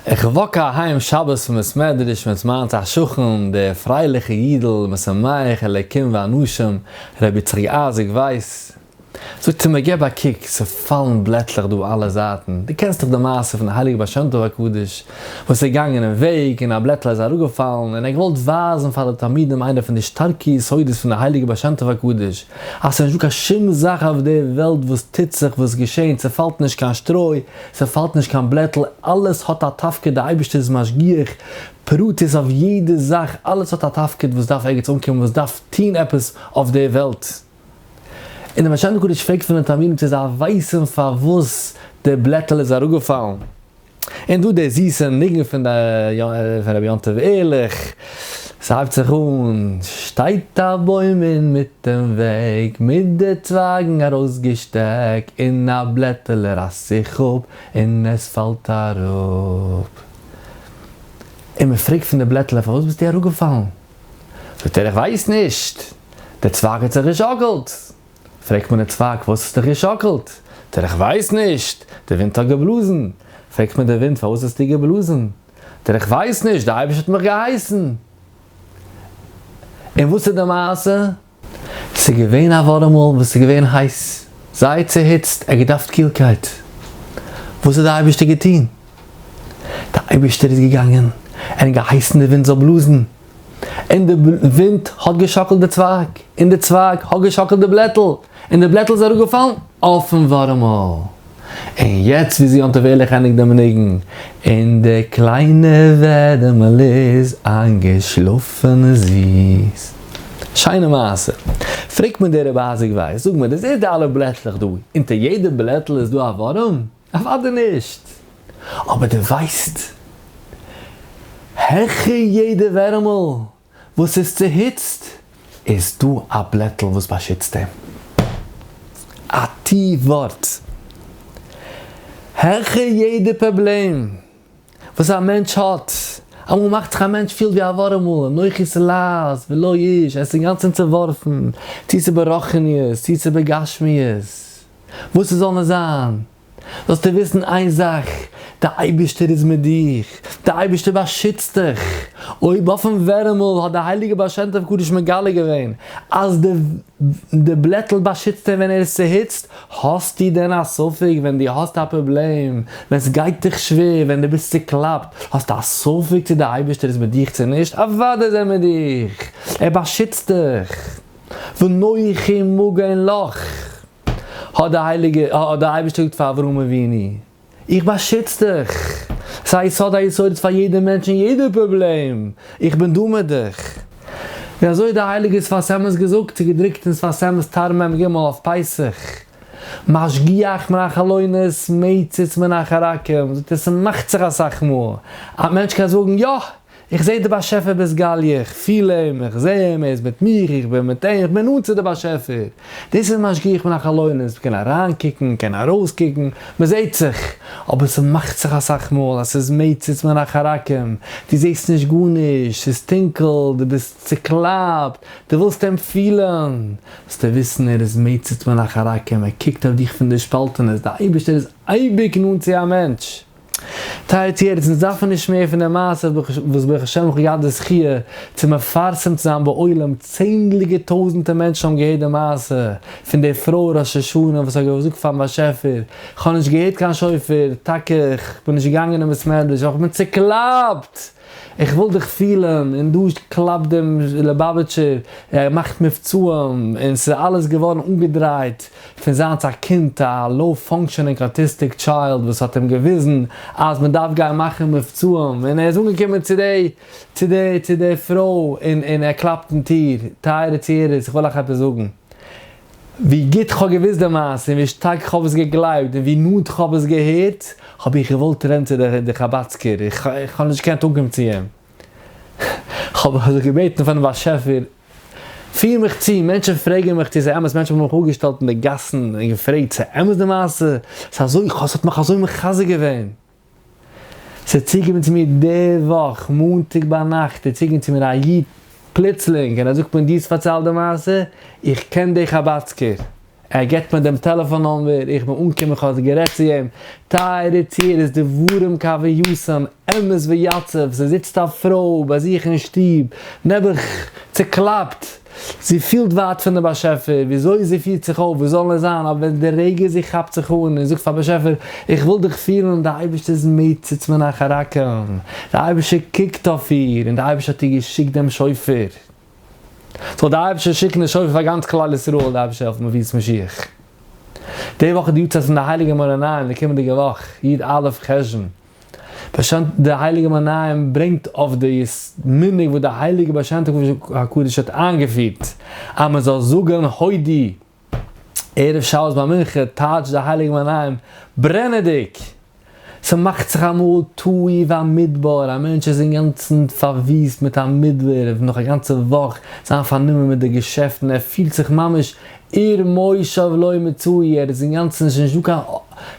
איך וואק אהיים שבת פון בית מדרש מיט מיין צו א שכן דער פרייליכע אידל משמח אלקים ואנשים רבי יצחק אייזיק ווייס, זאגט ער מיר געב א קוק ס'פאלן בלעטלעך דא אלע זייטן, דו קענסט דאך די מעשה פון הייליג בעל שם טוב הקדוש וואס איז געגאנגען אין וועג און א בלעטל איז אראפגעפאלן און ער געוואלט ווייזן פאר די תלמידים איינע פון די שטארקע יסודות פון די הייליגע בעל שם טוב הקדוש אז ס'איז נישטא קיין שום זאך אויף דער וועלט וואס טוט זיך וואס געשענט ס'פאלט נישט קיין שטרוי ס'פאלט נישט קיין בלעטל, אלעס האט א תפקיד, די אייבערשטער איז משגיח פרטית אויף יעדע זאך, אלעס האט א תפקיד וואס דארף ערגעץ אנקומען, וואס דארף טון עפעס אויף דער וועלט. און דער משנה קדוש פרעגט פון די תלמידים צו זיי ווייסן פארוואס דער בלעטל איז אראפגעפאלן. און דא דער זיסער ניגון פון רבי יום טוב ערליך. ס'הייבט זיך אן. שטייט א בוים אינמיטן וועג, מיט די צווייגן ארויסגעשטעק, און א בלעטעלע רייסט זיך אפ און עס פאלט אראפ. און מען פרעגט פון די בלעטעלע, פארוואס ביסטו אראפגעפאלן? זאגט ער, איך ווייס נישט, דער צווייג האט זיך געשאקלט. פרעגט מען דעם צווייג, פארוואס האסטו דיך געשאקלט? זאגט ער, איך ווייס נישט, דער ווינט האט געבלאזן. פרעגט מען דעם ווינט, פארוואס האסטו געבלאזן? דער איך ווייס נישט, דער אייבערשטער האט מיך געהייסן. און וואס איז די מעשה? ס'איז געווען א ווארעם מאל וואס איז געווען הייס, זייער צוהיצט, ער האט געדארפט קילקייט. וואס האט דער אייבערשטער געטון? דער אייבערשטער איז געגאנגען, ער האט געהייסן די ווינט זאל בלאזן, און די ווינט האט געשאקלט די צווייג, און די צווייג האט געשאקלט די בלעטל, און די בלעטל איז אראפגעפאלן אויפן ווארימעל. און יעצט ווי זי האט אוועליכענדיג דעם ניגון, און די קליינע ווערעמעל איז איינגעשלאפן זיס. שיינע מעשה. פרעגט מיר דער רבי אייזיק ווייס, זאג מיר, דו זעסט די אלע בלעטלעך דא, אונטער יעדע בלעטל איז דא א ווארעם? אוודאי נישט! אבער דו ווייסט העכער יעדע ווערעמל וואס איז צוהיצט איז דא א בלעטל וואס באשיצט אים. א ת ווארט. העכער יעדע פראבלעם וואס א מענטש האט, אמאל מאכט זיך א מענטש פילט ווי א ווארעמל, אנוכי סלאזש ולא איש, ער איז אינגאנצען צעווארפן, צו ס'איז ברוחניות צו ס'איז בגשמיות, וואס עס זאל נישט זיין, זאלסטו וויסן איין זאך, דער אייבערשטער איז מיט דיר, דער אייבערשטער באשיצט דיך, אויב אויפן ווערעמל האט דער הייליגער בעל שם טוב קדוש מגלה געווען אז די בלעטל באשיצט אים ווען ער איז צוהיצט, האסטו דען א ספק ווען דו האסט א פראבלעם, ווען עס גייט דיך שווער, ווען דו ביסט צוקלאפט, האסטו א ספק צו דער אייבערשטער איז מיט דיך צו נישט, אוודאי איז ער מיט דיך, ער באשיצט דיך. ונוחי מגן לך, האט דער הייליגע, האט דער אייבערשטער געזאגט פאר אברהם אבינו, איך באשיץ דיך, ס'איז א יסוד היסודות פאר יעדע מענטש און יעדע פראבלעם, איך בין דא מיט דיך. און אזוי האט דער הייליגער שפת אמת געזאגט, ס'איז געדרוקט אין שפת אמת תר מ ג אויף פסח, משגיח מן החלונות מציץ מן החרקים, זאגט ער ס'מאכט זיך אסאך מאל, א מענטש קען זאגן יא! איך זעה די באשעפער ביז גליה, איך פיל אים, איך זעה אים, ער איז מיט מיר, איך בין מיט אים, איך בין נאנט צו די באשעפער. דאס איז משגיח מן החלונות, מ'קען אריינקוקן, מען קען ארויסקוקן, מען זעהט זיך, אבער ס'מאכט זיך אסאך מאל אז ס'איז מציץ מן החרקים, דו זעהסט נישט גארנישט, ס'איז טונקל, דו ביסט צוקלאפט, דו ווילסט אים פילן, זאלסטו וויסן ער איז מציץ מן החרקים, ער קוקט אויף דיך פון די שפאלטענעס, דער אייבערשטער איז אייביג נאנט צו א מענטש. טייערע טוערצענס דארף מען נישט מער פון די מעשה וואס ברוך השם איך האב געהאט די זכי' צו מפרסם צו זיין בעולם, צענדליגע טויזענטע מענטשן האבן געהערט די מעשה פון די פרוי ראש השנה וואס האט געזאגט פארן באשעפער איך האב נישט געהערט קיין שופר, טאקע איך בין נישט געגאנגען אין בית מדרש אבער איך בין צוקלאפט! איך וויל דיך פילען, און דא קלאפט דעם ליבאוויטשער, ער מאכט מבצעים, און ס'איז אלעס געווארן אנגעדרייט פון זיינס א קינד, א לאו פאנקשענינג אוטיסטיק טשיילד וואס האט אים געוויזן אז מען דארף גיין מאכן מבצעים, און ער איז אנגעקומען צו די צו די צו די פרוי און און ער קלאפט אין טיר, טייערע צוהערערס איך וויל אייך עפעס זאגן, ווי גוט כ'האב געוואוסט די מעשה און ווי שטארק כ'האב עס געגלייבט און ווי נאנט כ'האב עס געהערט, האב איך געוואלט רעדן צו די חבד'סקער, איך האב נישט געקענט אנקומען צו אים. כ'האב זיך געבעטן פארן באשעפער, פיר מיך צו, מענטשן פרעגן מיך צו ס'איז אמת, מענטשן האבן מיך אפגעשטעלט אין די גאסן און געפרעגט ס'איז אמת די מעשה, ס'איז אזוי, ס'האט מיך אזוי מחזק געווען. ס'איז צוגעקומען צו מיר די וואך, מאנטאג ביינאכט איז צוגעקומען צו מיר א איד פלוצלינג און ער זאגט מיר דו האסט פארציילט די מעשה, איך קען די חבד'סקער, ער געבט מיר דעם טעלעפאן נומבער, איך בין אנגעקומען איך האב גערעדט צו אים, טייערע צו ער איז דברים כהווייתם, אמת ויציב, ס'זיצט א פרוי ביי זיך אין שטוב, נעבעך צוקלאפט. זי פילט ווייט פון דעם באשעפער, וויאזוי זי פירט זיך אויף, וואס זאל עס זיין, אבער ווען די רגע זי כאפט זיך אן און זאגט פאר באשעפער, איך וויל דיך פילן, די אייבערשטער איז מוצץ מן החרקים, די אייבערשטער קוקט אויף איר, און די אייבערשטער האט איר געשיקט דעם שופר, זאל די אייבערשטער שיקן די שופר פאר גאנץ כלל ישראל, די אייבערשטער העלפן מביאות משיח. די וואך איז די יארצייט פון די הייליגע מרא ניין, די קומענדיגע וואך, י' אלף חשון. בשנת דער הייליגער מנין ברענגט אויף די מנהג וואס די הייליגע בעל שם טוב קודש הקדוש האט איינגעפירט אז מען זאל זאגען הודי ערב שבת ביי מנחה טייטש די הייליגע מנין ברענעדיג ס'מאכט זיך אמאל תוהי והמדבר א מענטש איז אינגאנצען פארוויסט מיט א מדבר נאך א גאנצע וואך זיין פארנומען מיט די געשעפטען ער פילט זיך ממש עיר מושב לא מצוי, ער איז אינגאנצן נישט נישט דא קיין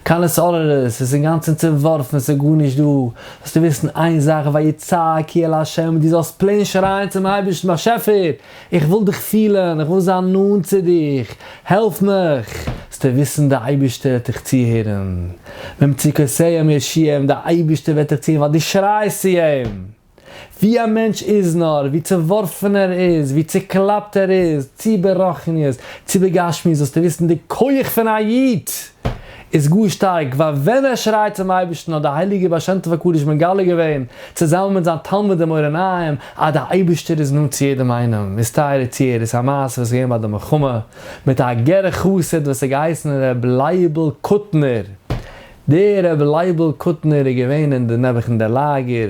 קיין עסארערעס, עס איז אינגאנצן צעווארפן, עס איז גארנישט דא, זאלסטו וויסן איין זאך, ויצעקי אל ה', דו זאלסט פלעין שרייען צום אייבערשטן, באשעפער, איך וויל דיך פילן, איך וויל זיין נאנט צו דיך, העלף מיך, זאלסטו וויסן די אייבערשטער וועט דיך צוהערן, ממצוקותיהם יושיעם, די אייבערשטער וועט דיך צוהערן ווייל דו שרייסט צו אים. ווי א מענטש איז נאר, ווי צעווארפן ער איז, ווי צעקלאפט ער איז, צי ברוחניות, צי בגשמיות, זאלסטו וויסן די כח פון א איד איז גאר שטארק, ווייל ווען ער שרייט צום אייבערשטן האט די הייליגער בעל שם טוב הקדוש מגלה געווען, צוזאמען מיט זיין תלמיד דעם אור עיניים, אז די אייבערשטער איז נאנט צו יעדעם איינעם, מסתער איז צו ער, איז א מעשה וואס איז געווען ביי די מלחמה, מיט א גר א חסיד וואס האט געהייסן ר' לייבל קוטנער, דער רבי לייבל קוטנער איז געווען אין די נעבעכנדע לאגער,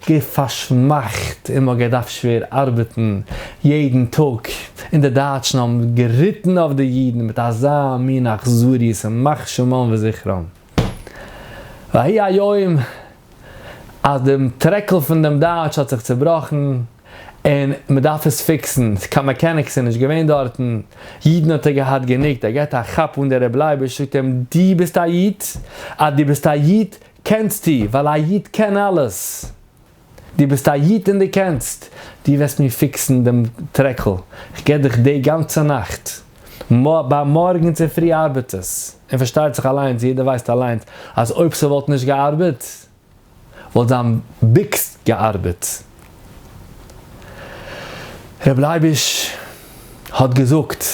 געוו פארשמאכט און מ'האט געדארפט שווער ארבעטן יעדן טאג, און די דייטשן האבן געריטן אויף די אידן מיט אזא מין אכזריות ימח שמם וזכרם. והי' היום אז דעם טרעקל פון דעם דייטש האט זיך צובראכן, און מען דארף עס פיקסן, קיין מעקעניקס איז נישט געווען דארטן, אידן האט ער געהאט גענוג, ער געט א כאפ אן די רב לייבוש זאגט אים דו ביסט א איד? אז דו ביסט א איד קענסטו, ווייל א איד קען אלעס, דו ביסט א איד און דו קענסט, דו וועסט מיר פיקסן דעם טרעקל, איך גיב דיך די גאנצע נאכט, ביי מארגן צופרי ארבעט עס, און פארשטייט זיך אליינס, יעדער ווייסט אליינס אז אויב ס'וואלט נישט געארבעט, וואלט זיין ביקס געארבעט. ר' לייביש האט געזאגט,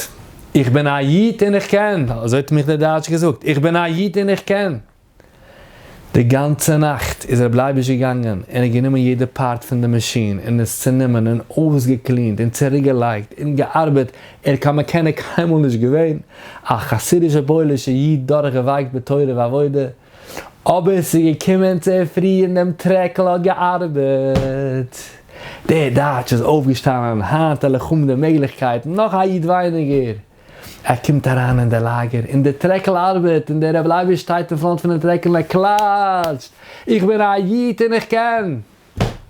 איך בין א איד און איך קען, אזוי האט מיך דער דייטש געזאגט, איך בין א איד און איך קען. די גאנצע נאכט איז ר' לייביש געגאנגען און ער האט גענומען יעדע פארט פון די מאשין און עס צענומען און אויסגעקלינט און צוריקגעלייגט און געארבעט, ער איז קיין מעקעניק קיינמאל נישט געווען, א חסידישע פוילישע איד דורכגעווייקט בתורה ועבודה, אבער ס'איז געקומען צו פרי און דעם טרעקל האט געארבעט. דער דייטש איז אויפגעשטאנען, היינט על החומ די מעגליכקייטן, נאך א איד ווייניגער. ער קומט אריין אין דער לאגער און דער טרעקל ארבעט און דער רבי לייביש שטייט אין פראנט פונעם טרעקל און ער קלאטשט, איך בין א איד און איך קען!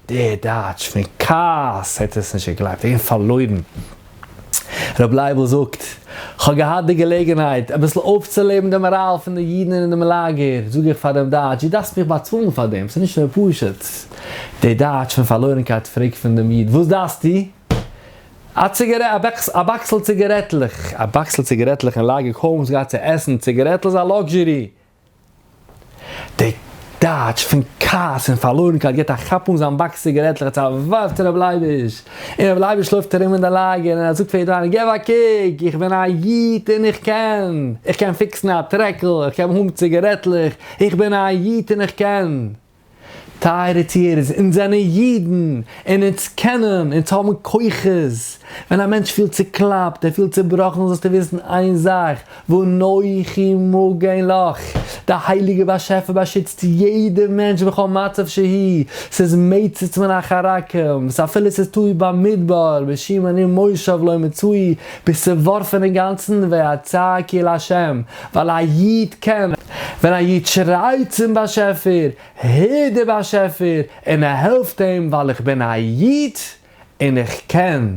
דער דייטש פון כעס האט עס נישט געגלייבט, ער האט געווען פארלוירן. רבי לייבל זאגט, כ'האב געהאט די געלעגנהייט אביסל אויפצולעבן די מאראל פון די אידן אינעם לאגער, זאג איך פאר דעם דייטש, דו דארפסט מיך באצאלן פאר דעם, ס'איז נישט מער פשוט. דער דייטש פון פארלוירנקייט פרעגט פון דעם איד, וואס דארפסטו? א ציגארעט, א בעקס, א באקסל ציגארעטלעך. א באקסל ציגארעטלעך אין לאגער, קוים וואס געהאט צו עסן, ציגארעטל איז א לאקזשערי, די טייטש פון כעס און פארלוירנקייט גיט א כאפ אן זיין באקס ציגערעטלעך עטס ארווארט ר' לייביש, און ר' לייביש לויפט ארום אין די לאגער און ער זאגט פאר יעדעם איינעם געב א קוק איך בין א איד און איך קען, איך קען פיקסן א טרעקל, איך קען האבן ציגערעטלעך, איך בין א איד און איך קען. טייערע צוהערערס, אונז זענען אידן, און אונז קענען, אונז האבן כוחות. ווען א מענטש פילט צוקלאפט, ער פילט צובראכן, זאלסטו וויסן איין זאך, ואנכי מגן לך, די הייליגע באשעפער באשיצט יעדע מענטש בכל מצב שהי', ס'איז מצות מן החרקים, ס'אפילו ס'איז תלוי במדבר, בשום אני מושב לא מצוי, ביסט צעווארפן אינגאנצן, ועצה כי לה', ווייל א איד קען, ווען א איד שרייט צום באשעפער, הער דער באשעפער און ער העלפט אים ווייל איך בין א איד און איך קען.